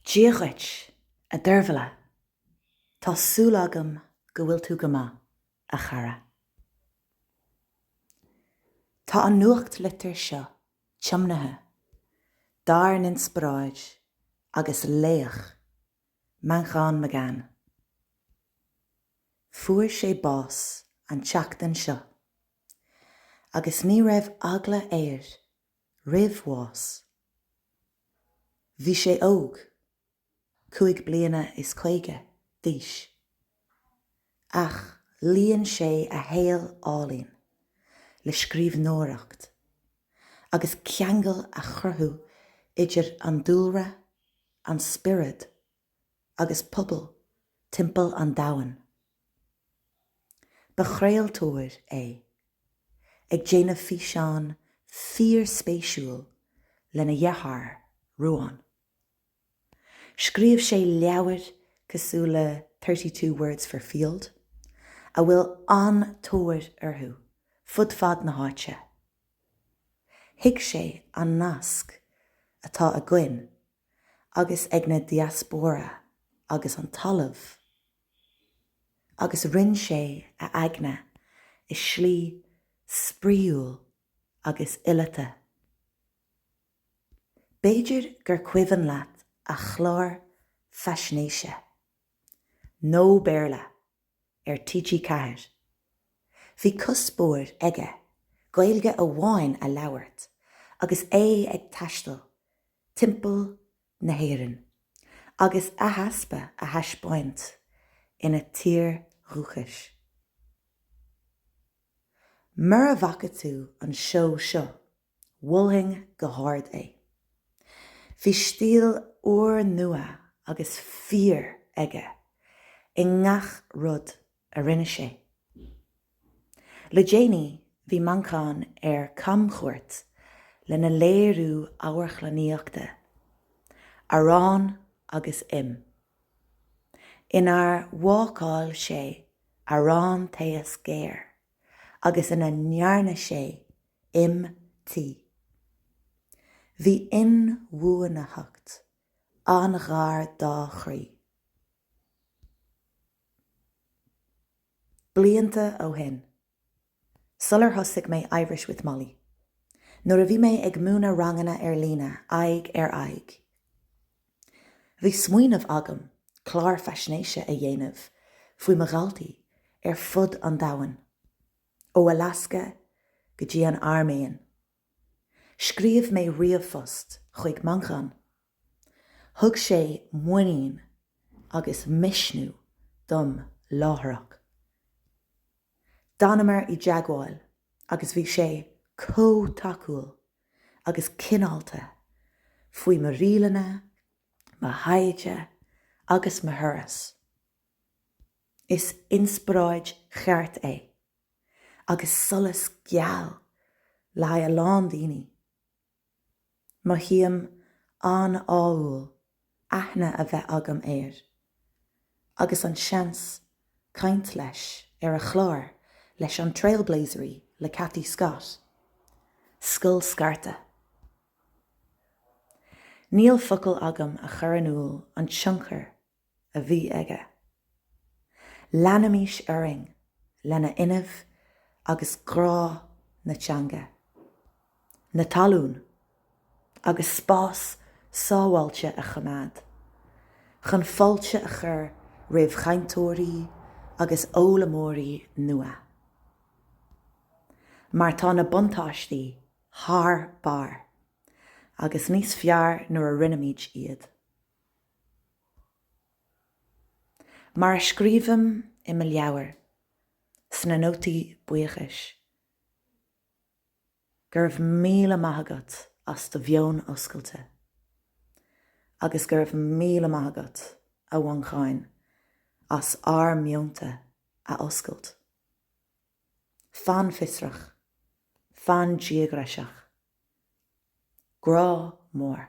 Dia dhuit, a Deirbhile. Tá súil agam go bhfuil tú go maith, a chara. Tá an nuachtlitir seo tiomnaithe dár n-inspioráid agus laoch, Manchán Magan. Fuair sé bás an tseachtain seo, agus ní raibh eagla air roimh bhás. Bhí sé óg, cúig bliana is caoga d'aois, ach líon sé a shaol álainn le scríbhneoireacht agus ceangal a chruthú idir an dúlra, an spiorad agus pobal timpeall an domhain. Ba chraoltóir é, ag déanamh físeán fíorspéisiúil lena dheartháir, Ruán. Scríobh sé leabhair cosúil le Thirty-Two Words for Field, a bhfuil an-tóir orthu fud fad na háite. Thuig sé an nasc atá againn agus ag na diaspóra agus an talamh. agus roinn sé a aigne i slí spraoiúil agus oilte. B'fhéidir gur cuimhin leat a chlár faisnéise No Béarla ar TG4. Bhí cuspóir aige Gaeilge amháin a labhairt agus é ag taisteal timpeall na hÉireann agus a heaspa a thaispeáint ina tír dhúchais. Mura bhfaca tú an seó seo, mholfainn go hard é. Bhí stíl úrnua agus fíor aige i ngach rud a rinne sé. Le déanaí bhí Manchán ar camchuairt lena léiriú amharclannaíochta, Arán agus Im, inar bhácáil sé arán taos géar agus ina ndearna sé im tí. Bhí inbhuanaitheacht an-ghar dá chroí. blianta ó shin, sular thosaigh mé Irish with Mollie. Nuair a bhí mé ag múineadh ranganna ar líne aghaidh ar aghaidh, bhí smaoineamh agam clár faisnéise a dhéanamh faoi mo dhaltaí ar fud an domhain, ó Alaska go dtí an Airméin. Scríobh mé ríomhphost chuig Manchán. Thug sé muinín agus misniú dom láithreach. D'fhanamar i dteagmháil agus bhí sé comh tacúil agus cineálta faoi mo rialanna, mo thaighde agus mo thuras. Is inspioráid cheart é. agus solas geal le haghaidh a lán daoine. Mothaím an-ádhúil, aithne a bheith agam air agus an seans caint leis ar a chlár leis an Trailblazery le Kathy Scott, Scoil Scairte. Níl focal agam a chur in iúl an tionchar a bhí aige. Leanaimis orainn lena fhuinneamh agus grá na teanga, na talún agus spás sábháilte a choimeád, chun fáilte a chur roimh chainteoirí agus fhoghlaimeoirí nua. Mar tá na buntáistí thar barr, agus níos fearr nuair a roinnimid iad. Mar a scríobhaim i mo leabhar sna nótaí buíochais, Go raibh míle maith agat as do mheon oscailte agus go raibh míle maith agat, a Mhancháin, as ár meonta a oscailt. Fan fiosrach. Fan díograiseach. Grá mór.